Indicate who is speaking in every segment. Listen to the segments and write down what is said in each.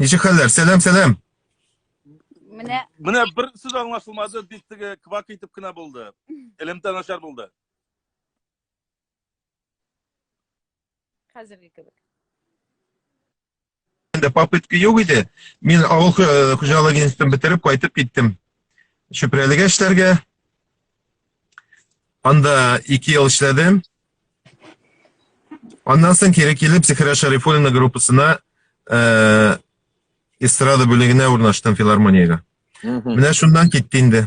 Speaker 1: Ничек хәлләр? Сәлам, сәлам. Менә
Speaker 2: Менә бер сүз аңлашылмады, бик теге квак итеп кенә булды. Элемтә начар булды.
Speaker 3: хәзерге кебек.
Speaker 1: Инде попытка юк иде. Мин авыл хуҗалыгы институтын бетереп кайтып киттем. Чүпрәлегә эшләргә. Анда 2 ел эшләдем. Аннан соң кире килеп Зихра Шарифуллина группасына э, эстрада бүлегенә урнаштым филармониягә. Менә шуннан китте инде.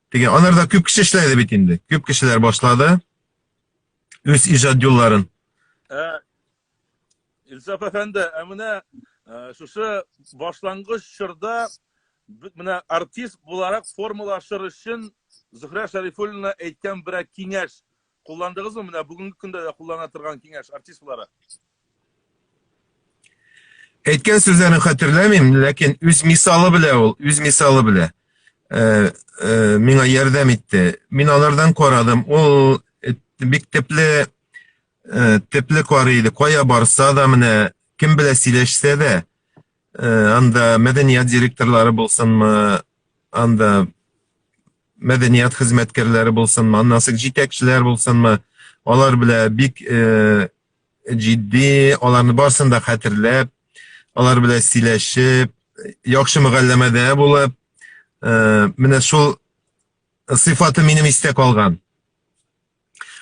Speaker 1: Теге анарда күп кеше эшләде бит инде. Күп кешеләр башлады үз иҗат юлларын. Ә
Speaker 2: Илсаф әфәнде, ә менә шушы башлангыч чорда менә артист буларак формалашыр өчен Зөһрә Шәрифуллина әйткән берәр киңәш Кулландыгызмы? Менә бүгенге көндә дә куллана торган киңәш, артист буларак.
Speaker 1: Әйткән сүзләрен хәтерләмим, ләкин үз мисалы белә ул, үз мисалы белә. Э, э, миңа ярдәм итте. Мин алардан карадым. Ул э, бик тепле э, тепле карый иде. Кая барса да менә кем белә сөйләшсә дә, э, анда мәдәният директорлары булсынмы, анда мәдәният хезмәткәрләре булсынмы, аннан соң җитәкчеләр булсынмы, алар белән бик э, җитди, аларны барсын да хәтерләп, алар белән сөйләшеп, яхшы мөгалләмәдә булып, э, менә шул сыйфаты минем истә калган.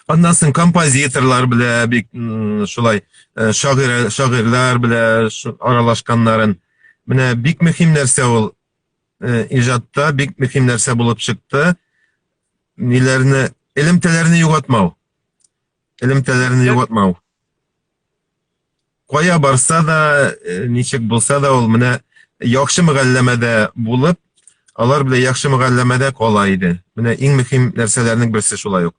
Speaker 1: Аннан соң композиторлар белән бик шулай э, шагыйрь шагыйрьләр белән аралашканнарын менә бик мөһим нәрсә ул э, иҗатта бик мөһим нәрсә булып чыкты. Ниләрне, элемтәләрне югатмау. Элемтәләрне югатмау. Кая барса да, э, ничек булса да, ул менә яхшы мөгалләмәдә булып, алар белән яхшы мөгалләмәдә кала иде. Менә иң мөһим нәрсәләрнең берсе шулай ук.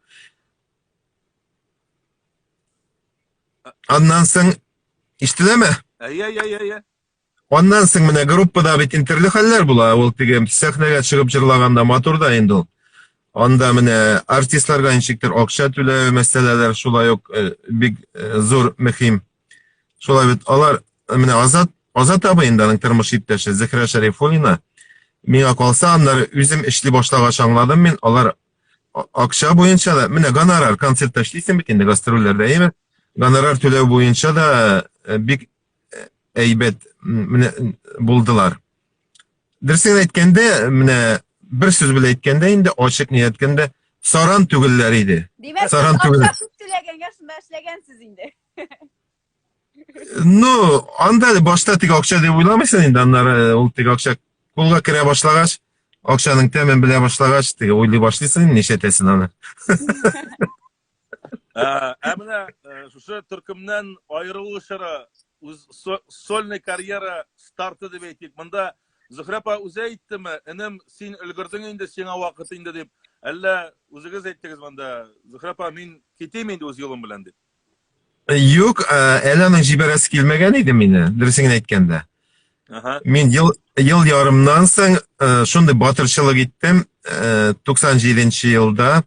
Speaker 1: Аннан соң ишетеләме? Әйе, әйе, әйе. Аннан соң менә группада бит интерле хәлләр була. Ул теге сәхнәгә чыгып җырлаганда матур да инде ул. Анда менә артистларга ничектер акча түләү мәсьәләләр шулай ук э, бик э, зур мөһим. Шулай бит алар менә Азат Азат абый инде аның тормыш иптәше Зөһрә Шәрифуллина. Миңа калса, аннары үзем эшли башлагач аңладым мин, алар акча буенча да, менә гонорар концертта эшлисең бит инде гастрольләрдә, әйме? Гонорар түләү буенча да э, бик әйбәт менә булдылар. Дөресен әйткәндә, менә бер сүз белән әйткәндә инде ачык ни әйткәндә саран түгелләр иде. Димәк, саран түгел. Акча
Speaker 3: түләгәнгә шунда эшләгәнсез инде.
Speaker 1: Ну, анда башта тик акча дип уйламыйсың инде, аннары э, ул тик акча кулга керә башлагач, акчаның тәмен белә башлагач, тик уйлый башлыйсың, ничә тәсен аны.
Speaker 2: Ә, ә менә э, шушы төркемнән аерылу чоры, үз со- сольный карьера старты дип әйтик. Монда Зөһрә апа үзе әйттеме, энем, син өлгердең инде, сиңа вакыт инде дип. Әллә үзегез әйттегез монда, Зөһрә апа, мин китим инде үз юлым белән дип. Юк,
Speaker 1: ә, әле аның җибәрәсе килмәгән иде мине, дөресен әйткәндә. Аха. Мин ел, ел ярымнан соң э, шундый батырчылык иттем. Э, 97 елда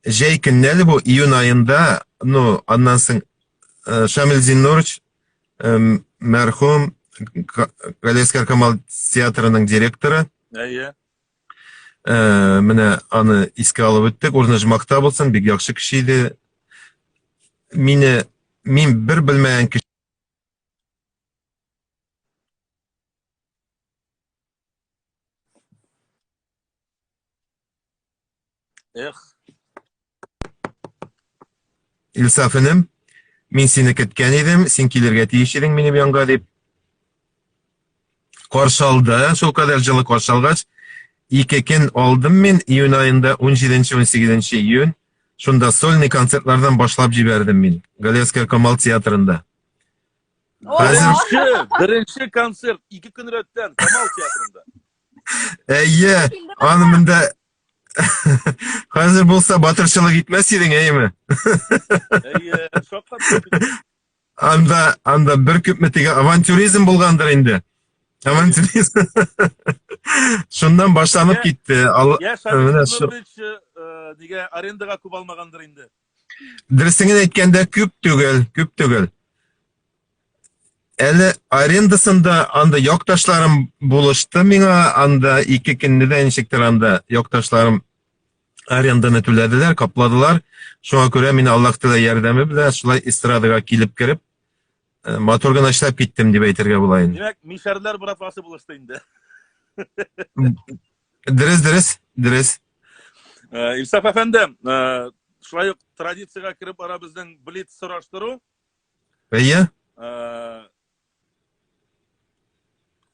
Speaker 1: Җәй көнне әле бу, июнь аенда, ну, аннан соң э, Шамил Зиннурович, э, мәрхүм Ка- Галиәскәр Камал театрының директоры, Әйе. Э, менә аны искә алып үттек. Урны жмакта булсын, бик яхшы кеше иде. Мине мин бер белмәгән кеше Эх. Илсаф инем, мин сине көткән идем, син килергә тиеш идең минем янга дип. Каршы алды, шул кадәр җылы каршы алгач, ике көн алдым мин июнь аенда 17-18 июнь. Шунда сольный концертлардан башлап җибәрдем мин Галиәскәр Камал театрында. Хәзер Беренче,
Speaker 2: беренче концерт ике көн рәттән Камал театрында. Әйе,
Speaker 1: аны монда хәзер булса батырчылык итмәс идең, әйеме?
Speaker 2: Әйе, шаккатырдык. Анда, анда
Speaker 1: бер күпме теге авантюризм булгандыр инде. Авантюризм. Шуннан башланып китте. Ал- Я, менә
Speaker 2: Шамил шу- Нурович, э, нигә арендага күп алмагандыр инде. Дөресен
Speaker 1: әйткәндә, күп түгел, күп түгел. Әле арендасында анда якташларым булышты миңа, анда ике көнне дә ничектер анда якташларым аренданы түләделәр, капладылар. Шуңа күрә мин Аллаһ Тәгалә ярдәме белән шулай эстрадага килеп кереп, Э, матур гына эшләп киттем дип әйтергә була инде. Димәк, мишәрләр братвасы
Speaker 2: булышты инде.
Speaker 1: Дөрес, дөрес, дөрес.
Speaker 2: Э, Илсаф әфәнде, э, шулай ук традициягә кереп бара безнең блиц сораштыру. Әйе.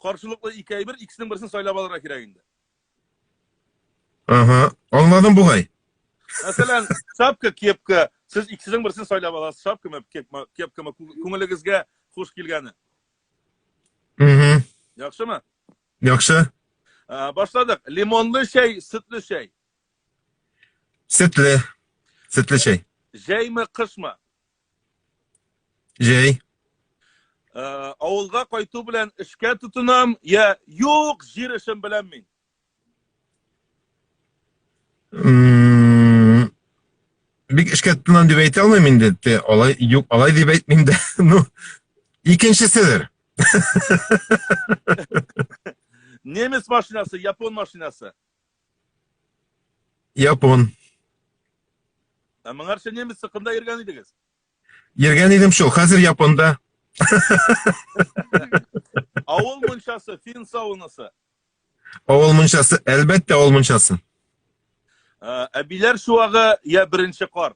Speaker 2: Каршылыклы ике әйбер, икесенең берсен сайлап алырга кирәк инде. Ага,
Speaker 1: аңладым бугай. Мәсәлән,
Speaker 2: шапка, кепка, сез икесенең берсен сайлап аласыз, шапкамы, кепкамы, кепкамы кү- күңелегезгә хуш килгәне. Угу. Яхшымы? Яхшы.
Speaker 1: Ә, Башладык.
Speaker 2: Лимонлы чәй, сөтле чәй. Сөтле.
Speaker 1: Сөтле чәй. Җәйме, кышмы?
Speaker 2: Җәй.
Speaker 1: Ә, авылга
Speaker 2: кайту белән эшкә тотынам, я юк, җир эшен беләм мин. М,
Speaker 1: Бик эшкә тотынам дип әйтә алмыйм инде. Те, Алай юк, алай дип әйтмим дә. Ну, икенчеседер.
Speaker 2: Немец машинасы, япон машинасы.
Speaker 1: Япон. Ә
Speaker 2: моңарчы немец сыкында йөргән идегез? Йөргән
Speaker 1: идем шул, хәзер Японда.
Speaker 2: Авыл мунчасы, фин савынысы. Авыл
Speaker 1: мунчасы, әлбәттә авыл мунчасы. Ә,
Speaker 2: әбиләр шуагы я беренче кар?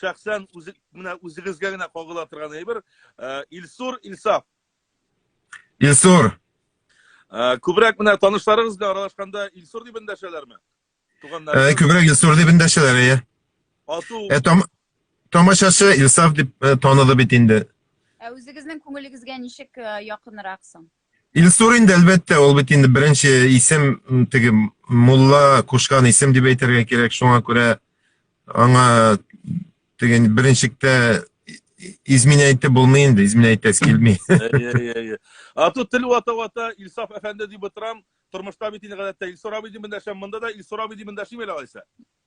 Speaker 2: шәхсән үзе менә үзегезгә генә кагыла торган әйбер э, Илсур Илсаф.
Speaker 1: Илсур.
Speaker 2: Э, күбрәк менә танышларыгыз белән аралашканда Илсур дип эндәшәләрме? Туганнар. Э, күбрәк Илсур дип
Speaker 1: эндәшәләр, әйе. Ату. Ә там тамашачы Илсаф дип таныды бит инде. Ә үзегезнең
Speaker 3: күңелегезгә ничек якынрак соң? Илсур инде
Speaker 1: әлбәттә, ул бит инде беренче исем, теге мулла кушкан исем дип әйтергә кирәк. Шуңа күрә аңа теге беренчектә измин әйтте булмый инде, измин әйтәс килми. А тут тел
Speaker 2: вата вата Илсаф әфәнде дип утырам. Тормышта бит инде гадәттә Илсур абый дип эндәшәм, монда да Илсур абый дип эндәшим әле алайса.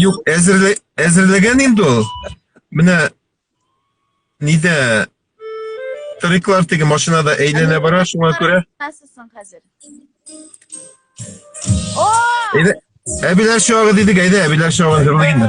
Speaker 2: Юк,
Speaker 1: әзерле, әзерләгән инде ул. Менә нидә Триклар теге машинада әйләнә бара, шуңа күрә.
Speaker 3: Насылсың
Speaker 1: хәзер? О! Әйдә, әбиләр чагы дидек, әйдә, әбиләр чагы җырлыйк инде.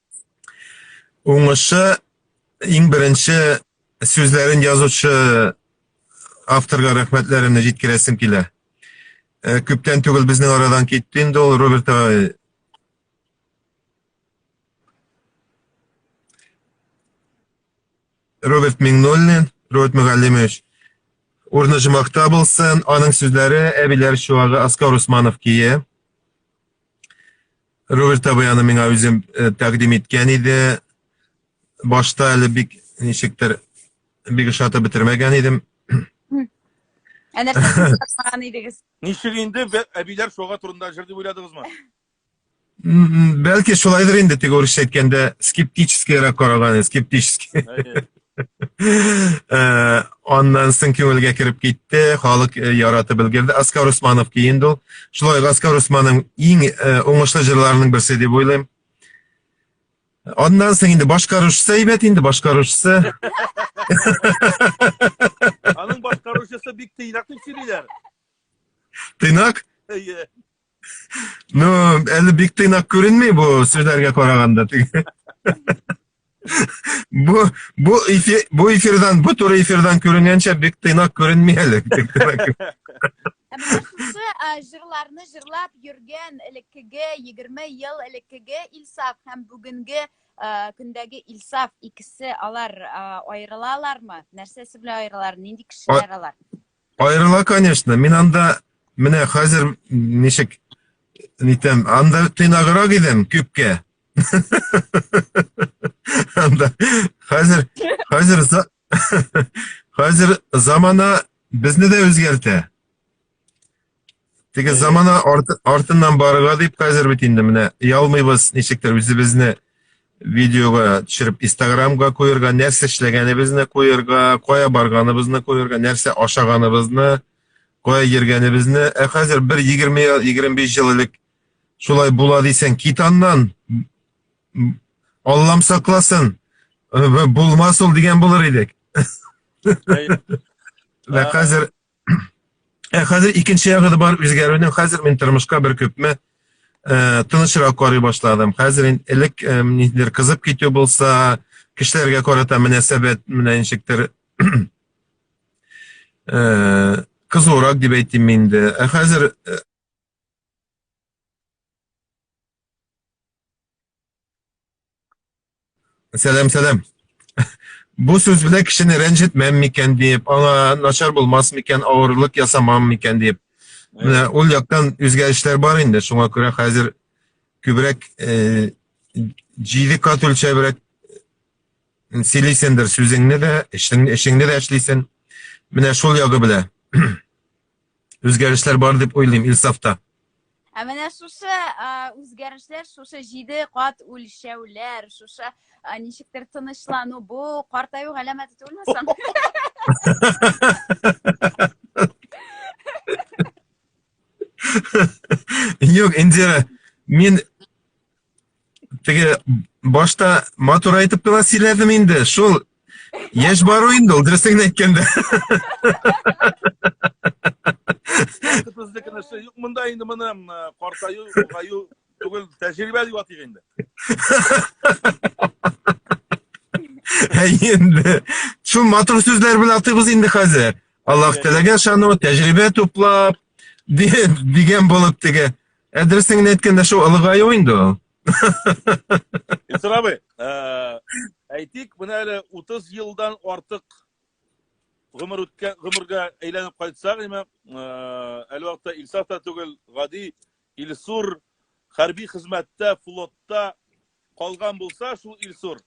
Speaker 3: Уңышы
Speaker 1: иң беренче сүзләрен язучы авторга рәхмәтләремне җиткерәсем килә. Э, күптән түгел безнең арадан китте инде ул Роберт агай. Роберт Миңнуллин, Роберт Мөгаллимович. Урны жымакта булсын, аның сүзләре әбиләр чуагы Аскар Усманов кие. Роберт абый аны миңа үзем э, тәкъдим иткән иде. Башта әле бик ничектер бик ошата бетермәгән идем. Ә
Speaker 3: нәрсәсен тапмаган идегез? Ничек инде бе-
Speaker 2: әбиләр шуга турында җыр дип уйладыгызмы? М,
Speaker 1: м, Бәлки шулайдыр инде теге урысча әйткәндә скептическийрак караган, скептический. Әйе. Э, аннан соң күңелгә кереп китте, халык э, яратып өлгерде. Аскар Усманов киен ул. Шулай Аскар Усманның иң э, уңышлы җырларының берсе дип уйлыйм. Аннан соң инде башкаручысы әйбәт инде башкаручысы. Аның
Speaker 2: башкаручысы бик тыйнак дип сөйлиләр.
Speaker 1: Тыйнак? Әйе. Ну, әле бик тыйнак күренми бу сүзләргә караганда. бу бу эфир бу эфирдан бу туры эфирдан күренгәнчә бик тыйнак күренми әле. Шушы
Speaker 3: җырларны җырлап йөргән элеккеге 20 ел элеккеге Илсаф һәм бүгенге көндәге Илсаф икесе алар аерылалармы? Нәрсәсе белән аерылар? Нинди кешеләр алар?
Speaker 1: Аерыла, конечно. Мин анда менә хәзер ничек нитәм, анда тыйнаграк идем күпкә. Анда хәзер хәзер хәзер замана безне дә үзгәртә. Теге замана арты, артыннан барырга дип хәзер бит инде менә ялмыйбыз ничектер үзебезне видеога төшереп инстаграмга куярга нәрсә эшләгәнебезне куярга кая барганыбызны куярга нәрсә ашаганыбызны кая йөргәнебезне ә хәзер бер егерме егерме биш ел элек шулай була дисәң кит аннан аллам сакласын э, булмас ул дигән булыр идек ә хәзер Ә хәзер икенче ягы да бар үзгәрүнең. Хәзер мин тормышка бер күпме э, тынычрак карый башладым. Хәзер инде элек э, ниндидер кызып китү булса, кешеләргә карата мөнәсәбәт менә ничектер э, кызурак дип әйтим инде. Ә хәзер э, Сәлам, сәлам. Бу сүз белән кешене рәнҗетмәм микән диеп, аңа начар булмас микән, авырлык ясамам микән диеп. Менә ул яктан үзгәрешләр бар инде, шуңа күрә хәзер күбрәк э, җиде кат үлчәбрәк сөйлисендер сүзеңне дә, эшеңне, эшеңне дә эшлисен. Менә шул ягы белән. Үзгәрешләр бар дип уйлыйм Илсафта. Ә менә
Speaker 3: шушы үзгәрешләр, шушы җиде кат үлчәүләр, шушы ничектер тынычлану, бу картаю галәмәте түгелме соң?
Speaker 1: Юк, Индира, мин теге башта матур айтып кына сөйләдем инде шул яшь бару инде ул дөресен әйткәндә безнекенең эше
Speaker 2: юк монда инде моны картаю олгаю түгел тәҗрибә дип
Speaker 1: атыйк инде енді шул матур сүзләр белән атыйбыз инде хәзер аллаһ теләгән шану тәҗрибә туплап дигән булып теге Ә дөресен генә әйткәндә шул олыгаю инде ул.
Speaker 2: Илсур абый, э, әйтик, менә әле 30 елдан артык гомер үткән гомергә әйләнеп кайтсак, әмма э, әле вакытта Илсаф та түгел, гади Илсур хәрби хезмәттә, флотта калган булса, шул Илсур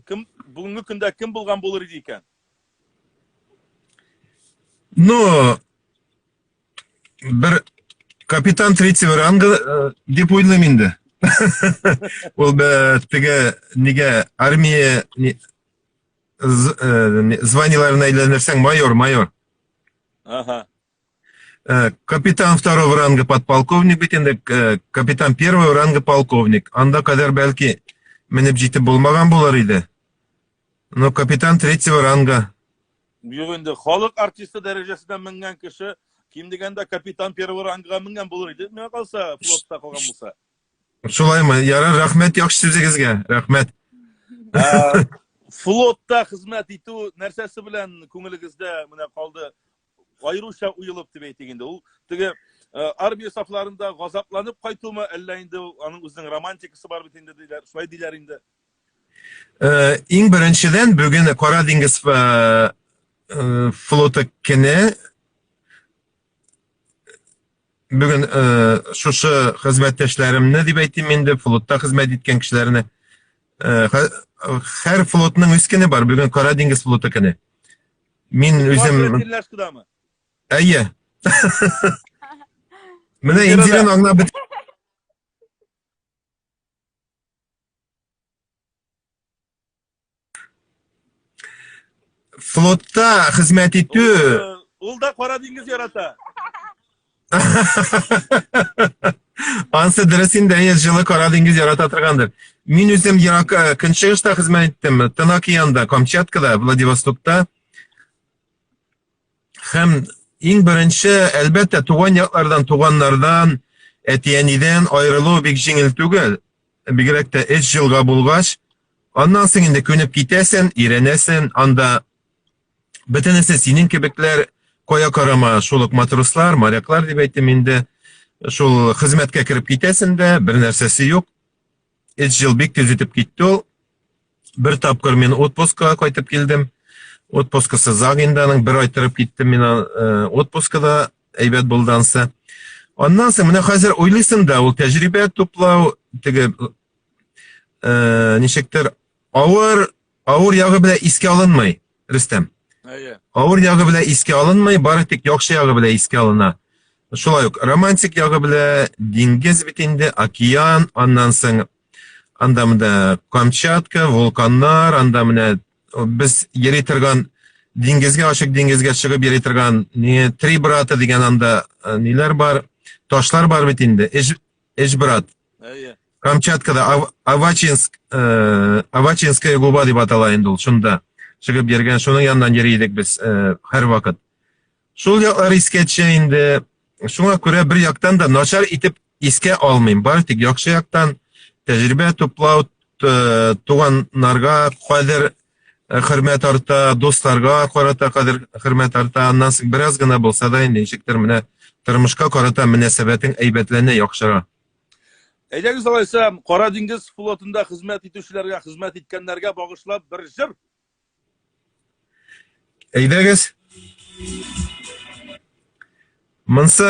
Speaker 2: кем бүгенге көндә кем булган булыр иде икән?
Speaker 1: Ну, бер капитан третьего ранга э, дип уйлыйм инде ул теге нигә армия э, званиеләренә әйләнерсәң майор майор ага
Speaker 2: э,
Speaker 1: капитан второго ранга подполковник бит инде капитан первого ранга полковник анда кадәр бәлки менеп җитеп булмаган булыр иде Ну, капитан третьего ранга. Юк инде,
Speaker 2: халык артисты дәрәҗәсенә менгән кеше, ким дигәндә капитан первого ранга менгән булыр иде, миңа калса, флотта калган булса. Шулаймы?
Speaker 1: Ярар, рәхмәт яхшы сүзегезгә. Рәхмәт.
Speaker 2: Флотта хезмәт итү нәрсәсе белән күңелегездә менә калды? аеруча уелып дип әйтик инде. Ул теге э, армия сафларында газапланып кайтуымы, әллә инде аның үзенең романтикасы бар бит инде диләр, шулай диләр инде. Э,
Speaker 1: иң беренчедән бүген Кара диңгез э, флоты көне бүген шушы хезмәттәшләремне дип әйтим инде, флотта хезмәт иткән кешеләрне һәр флотның үз көне бар, бүген Кара диңгез флоты көне. Мин үзем... Әйе. Менә Индирен аңлап бит. Флотта хезмәт итү... Ул да кара
Speaker 2: диңгез ярата.
Speaker 1: Ансы дөрес инде, әйе, җылы кара диңгез ярата торгандыр. Мин үзем ерак э, көнчыгышта хезмәт иттем, Тын океанда, Камчаткада, Владивостокта. Һәм иң беренче, әлбәттә, туган яклардан, туганнардан, әти-әнидән аерылу бик җиңел түгел. Бигрәк тә эш җылга булгач, аннан соң инде күнеп китәсен, иренәсен, анда Бөтенесе синең кебекләр кая карама шул ук матрослар, моряклар дип әйтем инде. Шул хезмәткә кереп китәсен дә, бер нәрсәсе юк. Эч жил бик тиз үтеп китте ул. Бер тапкыр мин отпускага кайтып килдем. Отпускасы заг инде аның бер ай торып киттем мин э, отпускада әйбәт булды ансы. Аннан соң менә хәзер уйлыйсың да ул тәҗрибә туплау теге э, ничектер авыр Авыр ягы белән искә алынмый, Рөстәм. Әйе. Авыр
Speaker 2: ягы белән
Speaker 1: искә алынмый, бары тик яхшы ягы белән искә алына. Шулай ук романтик ягы белән диңгез бит инде, океан, аннан соң анда монда Камчатка, вулканнар, анда менә без йөри торган диңгезгә, ачык диңгезгә чыгып йөри торган не три брата дигән анда ниләр бар, ташлар бар бит инде. Эш брат. Әйе.
Speaker 2: Камчаткада
Speaker 1: Ав- Авачинск, э, Авачинская губа дип атала инде ул, шунда чыгып йөргән, шуның яныннан йөри идек без э, һәрвакыт. Шул яклар искә төшә инде. Шуңа күрә бер яктан да начар итеп искә алмыйм. Бары тик яхшы яктан тәҗрибә туплау, т- туганнарга кадер э, хөрмәт арта, дусларга карата кадер хөрмәт арта, аннан соң бераз гына булса да инде ничектер менә тормышка карата мөнәсәбәтең әйбәтләнә, яхшыра.
Speaker 2: Әйдәгез алайса, Кара диңгез флотында хезмәт итүчеләргә, хезмәт иткәннәргә багышлап бер җыр.
Speaker 1: Әйдәгез. Монсы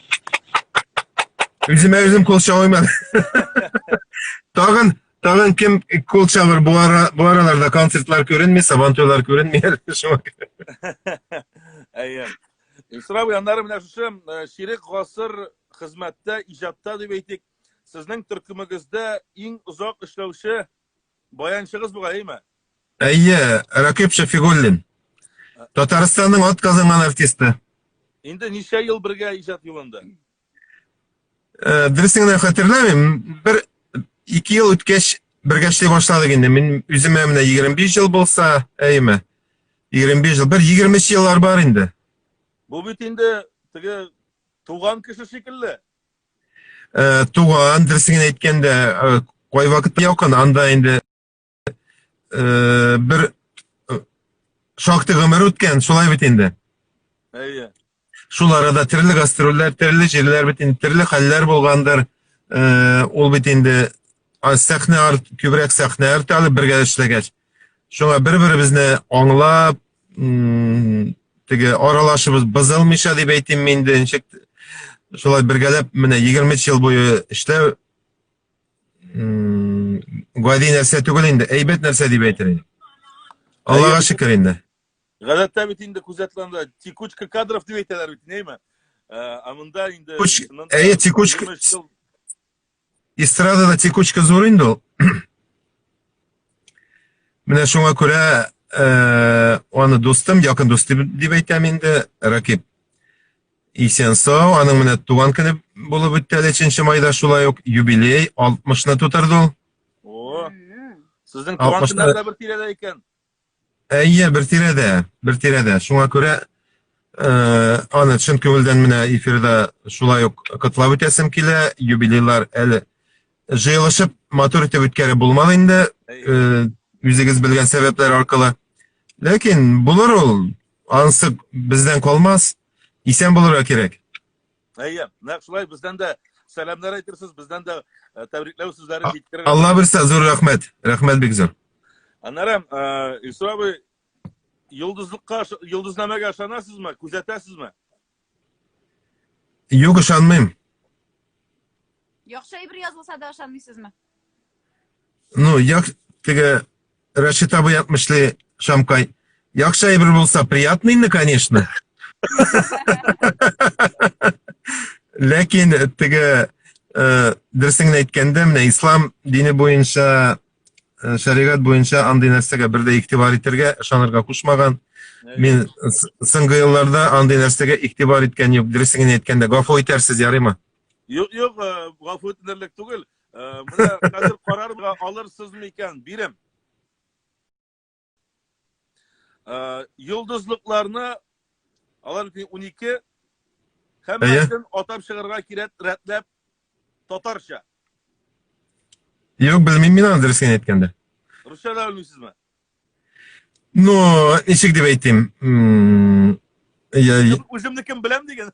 Speaker 1: Үземә үзем кул чабыймын. Тагын Тагын кем кул чабыр бу ара бу араларда концертлар күренми, сабан туйлар күренми шуңа күрә. Әйе.
Speaker 2: Исрау яннары менә шушы э, ширек гасыр хезмәттә, иҗатта дип әйтик, сезнең төркемегездә иң озак эшләүче Баянчыгыз бугай, әйме? Әйе,
Speaker 1: Рәкыйп Шәфигуллин. Татарстанның ат казынган артисты. Инде ничә
Speaker 2: ел бергә иҗат юлында? Э,
Speaker 1: Дөресен генә хәтерләмим. Бер ике ел үткәч бергә эшли башладык инде. Мин үземә менә 25 ел булса, әйме? 25 жыл, бер 20 жыллар бар инде. Бу бит
Speaker 2: инде теге туган кеше шикелле. Э, туган
Speaker 1: дөресен әйткәндә э, кайвакыт якын анда инде э, бер шактый гомер үткән шулай бит инде әйе
Speaker 2: шул
Speaker 1: арада төрле гастрольләр төрле җирләр бит инде төрле хәлләр булгандыр ул бит инде сәхнә арт күбрәк сәхнә арты әле бергә эшләгәч Шуңа бер-беребезне аңлап, теге аралашыбыз бозылмыйча дип әйтим мин инде ничек шулай бергәләп менә 23 ел буе эшләү гади нәрсә түгел инде, әйбәт нәрсә дип әйтер идем. Аллага шөкер инде. Гадәттә бит
Speaker 2: инде күзәтләндә текучка кадров дип әйтәләр бит, нәйме? Ә монда инде Әйе, текучка
Speaker 1: Эстрадада текучка зур инде ул. Менә шуңа күрә э, аны дустым, якын дусты дип әйтәм инде, Ракип исән сау, аның менә туган көне булып үтте әле 3 майда шулай ук юбилей 60-ны тутырды ул. О,
Speaker 2: сезнең туган көннәр дә бер тирәдә икән. Әйе,
Speaker 1: бер тирәдә, бер тирәдә. Шуңа күрә э, аны чын күңелдән менә эфирда шулай ук котлап үтәсем килә. Юбилейлар әле җыелышып матур итеп үткәреп булмады инде, э, үзегез белгән сәбәпләр аркылы. Ләкин булыр ул, ансы бездән калмас. Исән булырга кирәк. Әйе,
Speaker 2: нәкъ шулай бездән дә сәламнәр әйтерсез, бездән дә э, тәбрикләү сүзләре җиткерер. Алла бирсә, зур рәхмәт.
Speaker 1: Рәхмәт бик зур. Аннары э,
Speaker 2: Илсур абый йолдызлыкка ыша- йолдызнамәгә ышанасызмы? Күзәтәсезме?
Speaker 1: Юк, ышанмыйм. Яхшы
Speaker 3: әйбер язылса да ышанмыйсызмы?
Speaker 1: Ну, як теге Рәшит абый ятмышлы Шамкай. Якша әйбер булса приятный инде, конечно. Ләкин теге э, дөресен әйткәндә, менә ислам дине буенча э, шәригать буенча андый нәрсәгә бер дә игътибар итәргә, ышанырга кушмаган. Мин соңгы елларда андый нәрсәгә игътибар иткән юк. Дөресен әйткәндә, гафу итәрсез, ярыймы? Юк, юк,
Speaker 2: гафу итенерлек түгел. Менә хәзер карарга алырсызмы икән, бирем. Йолдызлыкларны алар 12 һәммәсен атап чыгарга кирәк, рәтләп татарча.
Speaker 1: Юк, белмим мин аны дөресен әйткәндә. Русча да белмисезме?
Speaker 2: Ну,
Speaker 1: ничек дип әйтим?
Speaker 2: Үземнекен беләм дигән.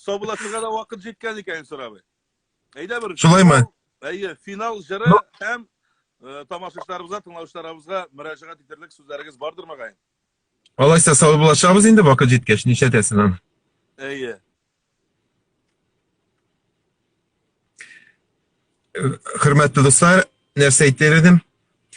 Speaker 2: Саубуллашырга да вакыт җиткән икән, Илсур абый. Әйдә бер. Шулаймы? Әйе,
Speaker 1: финал
Speaker 2: җыры һәм э, тамашачыларыбызга, тыңлаучыларыбызга мөрәҗәгать итерлек сүзләрегез бардыр мөгаен? Алайса
Speaker 1: саубуллашабыз инде вакыт җиткәч, нишләтәсең аны? Әйе. Хөрмәтле дуслар, нәрсә әйтер идем?